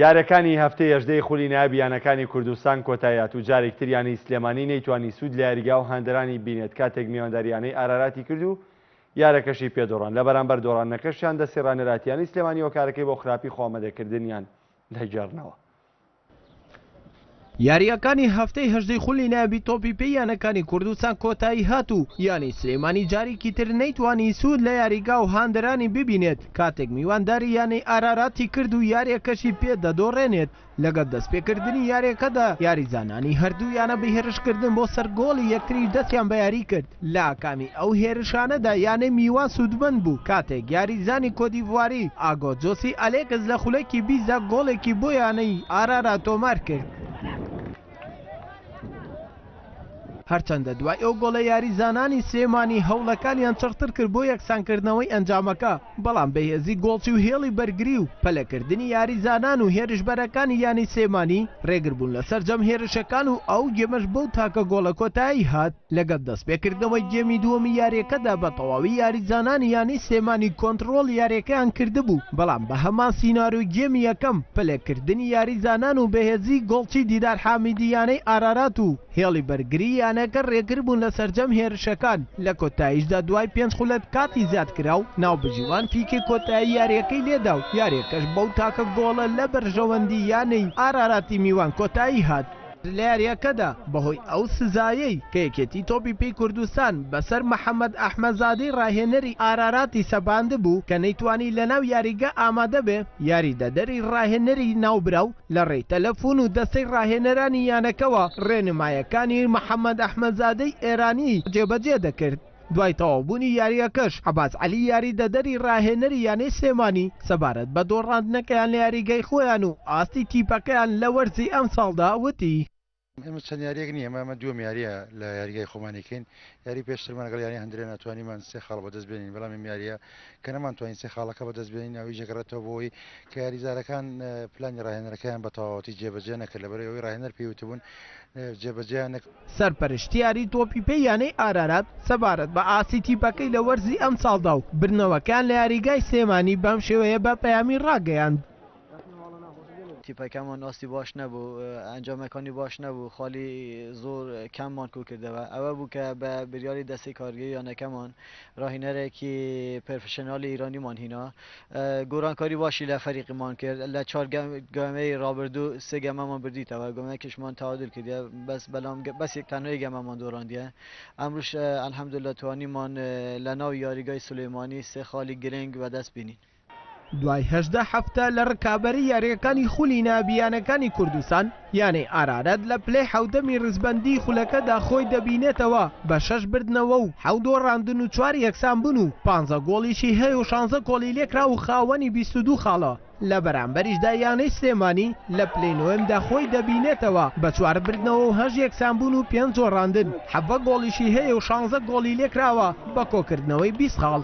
یاریەکانی هەفتەی هەژدەی خولی نایاب یانەکانی کوردستان کۆتاییهات و جارێک تر یانەی سلێمانی نەیتوانی سود لە یاریگا و هاندەرانی بینێت کاتێک میوانداری یانەی ئاراراتی کرد و یارەکەشی پێ دۆڕان لە بەرامبەر دۆڕانەکەشیان دەستی رانەراتیانی سلێمانی هۆکارەکەی بۆ خراپی خۆ ئامەدەکردنیان دەگێڕنەوە. یارییەکانی هەفتەی هەژدەی خولی نایابی تۆپی پێی یانەکانی کوردستان کۆتایی هات و یانەی سلێمانی جارێکی تر نەیتوانی سوود لە یاریگا و هاندەرانی ببینێت کاتێک میوانداری یانەی ئاراراتی کرد و یارییەکەشی پێ دەدۆڕێنێت لەگەڵ دەستپێکردنی یارییەکەدا یاریزانانی هەردوو یانە بە هێرشکردن بۆ سەر گۆڵی یەکتری دەستیان بە یاری کرد. لە کامی ئەو هێرشانەدا یانەی میوان سوودمەند بوو، کاتێک یاریزانی کۆتدیڤواری ئاگۆ جۆسی ئەلێکس لە خولەکی بیست دا گۆڵێکی بۆ یانەی ئارارا تۆمار کرد. هەرچەندە دوای ئەو گۆڵە یاریزانانی سلێمانی هەوڵەکانیان چڕتر کرد بۆ یەکسانکردنەوەی ئەنجامەکە، بەڵام بەهێزی گۆڵچی و هێڵی بەرگری و پەلەکردنی یاریزانان و هێرشبەرەکانی یانەی سلێمانی رێگربوون لە سەرجەم هێرشەکان و ئەو گێمەش بەو تاکە گۆڵە کۆتایی هات، لەگەڵ دەستپێکردنەوەی گێمی دووەمی یارییەکەدا بەتەواوی یاریزانانی یانەی سلێمانی کۆنتڕۆڵی یارییەکەیان کردبوو، بەڵام بە هەمان سیناریۆی گێمی یەکەم پەلەکردنی یاریزانان و بەهێزیی گۆڵچی دیدار حامیدی یانەی ئارارات و هێڵی بەرگری یانەکە رێگر بوون لە سەرجەم هێرشەکان، لە کۆتاییشدا دوای پێنج خولەک کاتی زیادکراو، ناوبژیوان فیکەی کۆتایی یارییەکەی لێدا و یارییەکەش بەو تاکە گۆڵە لە بەرژەوەندی یانەی ئاراراتی میوان کۆتایی هات. لە یارییەکەدا بەهۆی ئەو سزایەی کە یەکێتی تۆپی پێی کوردستان بەسەر محەمەد ئەحمەزادەی راهێنەری ئاراراتی سەپاندبوو کە نەیتوانی لەناو یاریگە ئامادەبێ، یاریدەدەری راهێنەری ناوبراو، لە ڕێی تەلەفون و دەستەی ڕاهێنەرانی یانەکەوە ڕێنمایەکانی محەمەد ئەحمەدزادەی ئێرانی جێبەجێ دەکرد، دوای تەواوبوونی یارییەکەش عەباس عەلی یاریدەدەری ڕاهێنەری یانەی سلێمانی سەبارەت بە دۆڕاندنەکەیان لە یاریگای خۆیان و ئاستی تیپەکەیان لە وەرزی ئەمساڵدا وتی، ئێمە چەند یاریەک نییە مامە دوم یاریە لە یاریگای خۆمانێکین یاری پێشترمان گەڵ یاری هەندرێن ناتوانیمان سێ خاڵ بەدەست بێنین بەڵام یاریە کە نەمانتوانین سێ خاڵەکە بەدەست بێنین ئەوی جگەڕێتەوە بۆی کە یاریزارەکان پلانی ڕاهێنەرەکەیان بە تەواوەتی جێبەجێ نەکرد لە بەرەوەی ڕاهێنەر پێوتبوون جێبەجێیان نەک سەرپەرشتیاری تۆپی پێی یانەی ئارارات سەبارەت بە ئاستی تیپەکەی لە وەرزی ئەمساڵدا و بردنەوەکەیان لە یاریگای سلێمانی بەم شێوەیە بە پەیامی ڕاگەیاند. تیپەکەمان ئاستی باش نەبوو ئەنجامەکانی باش نەبوو خالی زۆر کەممان کو کردەوە ئەوە بوو کە بە بریاری دەستی کارگەی یانەکەمان راهینەرێکی پرفشنالی ایرانیمان هینا گۆرانکاری باشی لە فەریقیمان کرد لە چوار گەمەی رابردوو سێ گەمەمان بردیتەوە گۆمەکیشمان تعادل کردە بەس بەلام بەس تەنۆی گەمەمان دۆراندیە ئەمروش الحمدلله توانیمان لە ناو یاریگای سلێمانی سێ خالی گرنگ بەدەست بینین دوای هەژدە هەفتە لە رکابەری یارییەکانی خولی نایابی یانەکانی کوردستان، یانەی ئارارەت لە پلەی حەوتەمی رزبەندیی خولەکەدا خۆی دەبینێتەوە بە شەش بردنەوە و حەو دۆڕاندن و چوار یەکسانبوون و پانزە گۆڵیشی هەیە و شانزە گۆڵی لێکراو و خاوەنی بیست و دوو خاڵە، لە بەرامبەریشدا یانەی سلێمانی لە پلەی نۆیەمدا خۆی دەبینێتەوە بە چوار بردنەوە و هەشت یەکسانبوون و پێنج دۆڕاندن، حەڤە گۆڵیشی هەیە و شانزە گۆڵی لێکراوە. بە کۆکردنەوەی بیست خاڵ.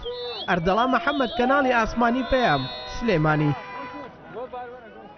ئەردەڵا محەمەد کەناڵی ئاسمانی پەیام، سلێمانی.